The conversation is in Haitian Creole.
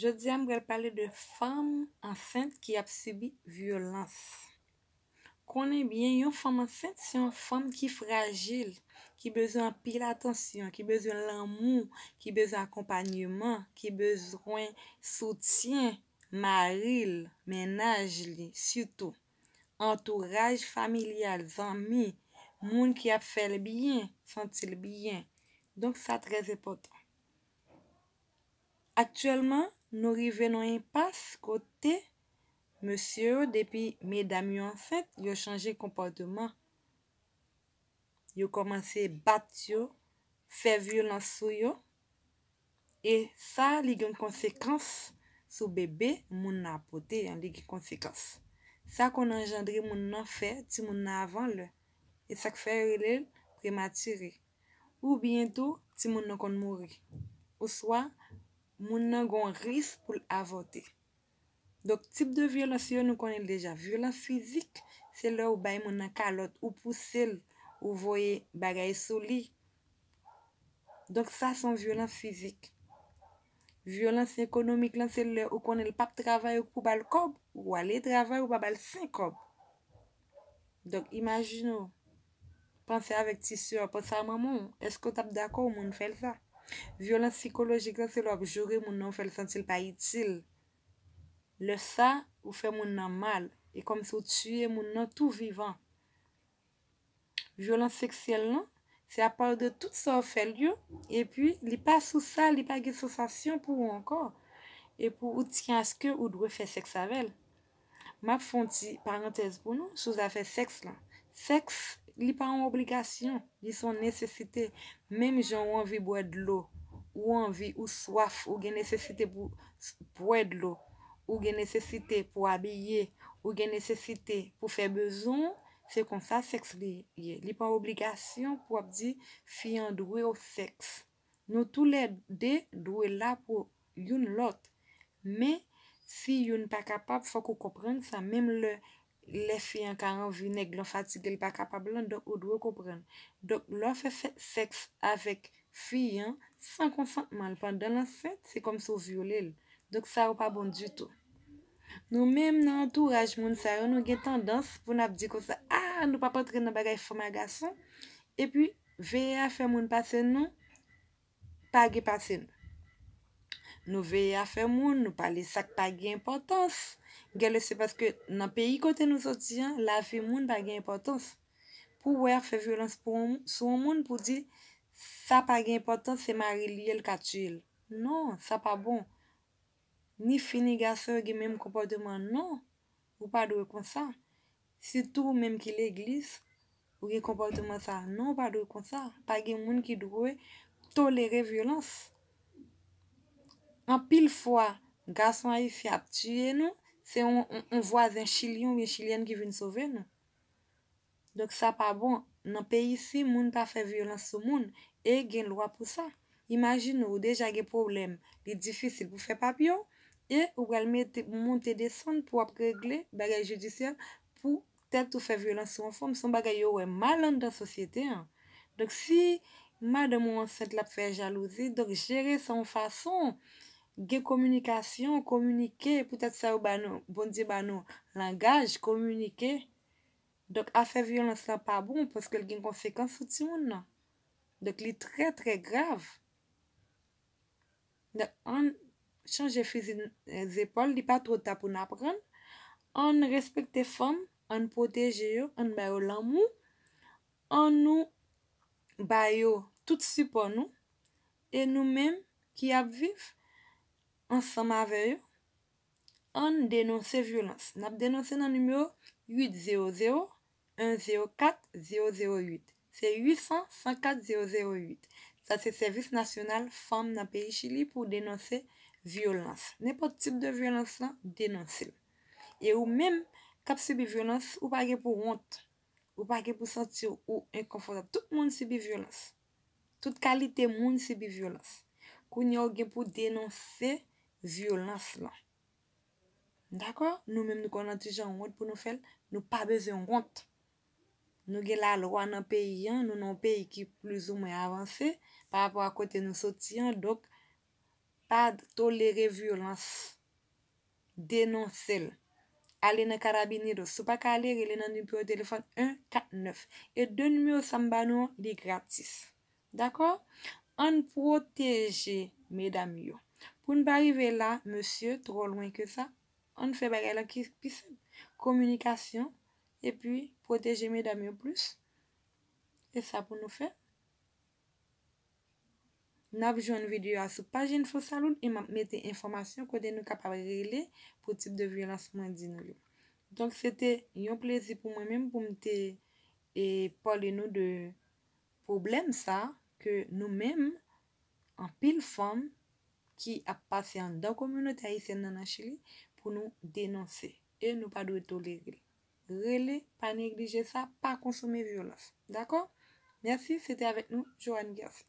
Jodi a m pral pale de fanm ansent ki ap sibi vyolans. Konnen byen yon fanm ansent se yon fanm ki frajil, ki bezwen anpil atansyon, ki bezwen lanmou, ki bezwen akonpanyeman, ki bezwen soutyen mari l, mennaj li sitou, antouraj familyal, zanmi, moun ki ap fè l byen, santi l byen. Donk sa trèzenpòtan. Aktyèlman, nou rive nan yon enpas kote mesye yo depi medam yo ansent, yo chanje konpòteman. Yo kòmanse bat yo, fè vyolans sou yo e sa li gen konsekans sou bebe moun nan ap pote an, li gen konsekans. Sa konn anjandre moun nan fè timoun nan avan lè. E sa k fè yo rele l premature. oubyen tou timoun nan konn mouri, oswa moun nan gen yon risk pou l avòte. Donk tip de vyolans yo nou konnen l deja. Vyolans fizik, se lè ou bay moun nan kalòt, ou pouse l, ou voye bagay sou li. Donk sa se yon vyolans fizik. Vyolans ekonomik lan se lè ou konnen l pap travay ou pou ba l kòb, ou ale travay ou pa ba l senkòb. Donk imajine w Panse avèk ti sè a, panse a manman w. Èske w t ap dakò yon moun fè l sa? Vyolans sikolojik lan se lè w ap joure moun nan ou fè l santi l pa itil. Lè sa, ou fè moun nan mal. E kòmsi w tiye moun nan tou vivan. Vyolans seksyèl lan, se a pale de tout sa w fè l yo, epi li pa sou sa, li pa gen sansasyon pou ou ankò. Epi ou tiye aske ou dwe fè sèks avè l. Map fè yon ti parantèz pou nou sou zafè sèks lan. Sèks, li pa yon obligasyon, li se yon nesesite. Menm jan ou anvi bwè dlo, ou anvi, ou swaf, ou gen nesesite pou bwè dlo, ou gen nesesite pou abiye, ou gen nesesite pou fè bezwen ou, se konsa sèks li ye. Li pa yon obligasyon pou ap di fi an dwe w sèks. Nou tou lè 2 dwe la pou youn lòt. Men, si youn pa kapab, fòk ou konprann sa. Menm lè lè fi an ka anvi nèg lan fatige l pa kapab lan, donk ou dwe konprann. Donk, lè w fè sèks avèk fi an san konsantman l pandan l ansent, se kòmsi w vyole l. Donk sa yo pa bon ditou. Nou menm nan antouraj moun sa yo, nou gen tandans pou n ap di konsa, A! Nou pap antre nan bagay fanm a gason. Epi, Veye afè moun pase nou pa gen pase nou. Nou veye afè moun, nou pale sa k pa gen enpòtans. Gen lè se paske nan peyi kote nou soti an, lavi moun pa gen enpòtans. Pou w wè y ap fè vyolans pou yon moun, sou yon moun pou w di sa pa gen enpòtans se mari l ye l ka tiye l. Non, sa pa bon. Ni fi ni gason yo gen menm konpòteman non. Ou pa dwe konsa. Sitou ou menm ki legliz, ou gen konpòteman sa a. Non ou pa dwe konsa. Pa gen moun ki dwe tolere vyolans. Anpil fwa, gason ayisyen ap tiye nou, se yon vwazen chilyen oubyen chilyèn ki vin sove nou. Donk sa pa bon, nan peyi isi moun pa fè vyolans sou moun, e gen lwa pou sa. Imajine ou deja gen pwoblèm, li difisil pou fè papye w, e ou pral mete ou monte desann pou w ap regle bagay jidisyè pou tèt ou fè vyolans sou yon fanm, se yon bagay yo wè mal anndan sosyete an. Donk si madanm ou ansent l ap fè jalouzi, donk jere sa yon fason, gen kominikasyon, kominike, poutèt sa yo ba nou, Bondye ba nou langaj, kominike. Donk afè vyolans la pa bon paske l gen konsekans sou timoun nan. Donk li trè trè grav. Donk ann chanje fizi zepòl li pa twò ta pou n aprann. Ann respekte fanm, ann pwoteje yo, ann ba yo lanmou, ann nou ba yo tout sipò nou e nou menm ki ap viv ansanm avè yo Ann denonse vyolans. Nap denonse nan nimewo 800 104 008. Se 800 104 008. Sa se sèvis nasyonal fanm nan peyi Chili pou denonse vyolans. Nenpòt tip de vyolans lan, denonse l. E ou menm kap sibi vyolans, ou pa gen pou wont. Ou pa gen pou santi w enkonfòtab. Tout moun sibi vyolans. Tout kalite moun sibi vyolans. Kounye a ou gen pou denonse vyolans lan. Dakò? Nou menm nou konn ki jan wont pou nou fè l, nou pa bezwen wont. Nou gen lalwa nan peyi an, nou nan yon peyi ki plizoumwen avanse pa rapò a kote nou soti an, donk pa tolere vyolans. Denonse l. Ale nan Carabineros. Si w pa ka ale, rele nan nimewo telefòn 149. E de nimewo sa m ba nou an, li gratis. Dakò? Ann pwoteje medam yo. Pou n pa rive la, mesye, twò lwen ke sa, ann fè bagay la ki pi senp. Kominikasyon, epi pwoteje medam yo plis. E sa pou nou fè. Nap jwenn video a sou paj info saloon e map mete enfòmasyon kote nou kapab rele pou tip de vyolans mwen di nou yo. Donk se te yon plezi pou mwen menm pou m te e pale nou de pwoblèm sa ke nou menm anpil fanm ki ap pase anndan kominote ayisyèn nan nan Chili pou nou denonse e nou pa dwe tolere l. Rele pa neglije sa pa konsome vyolans dakò mèsi se te avèk nou Johanne Guercin.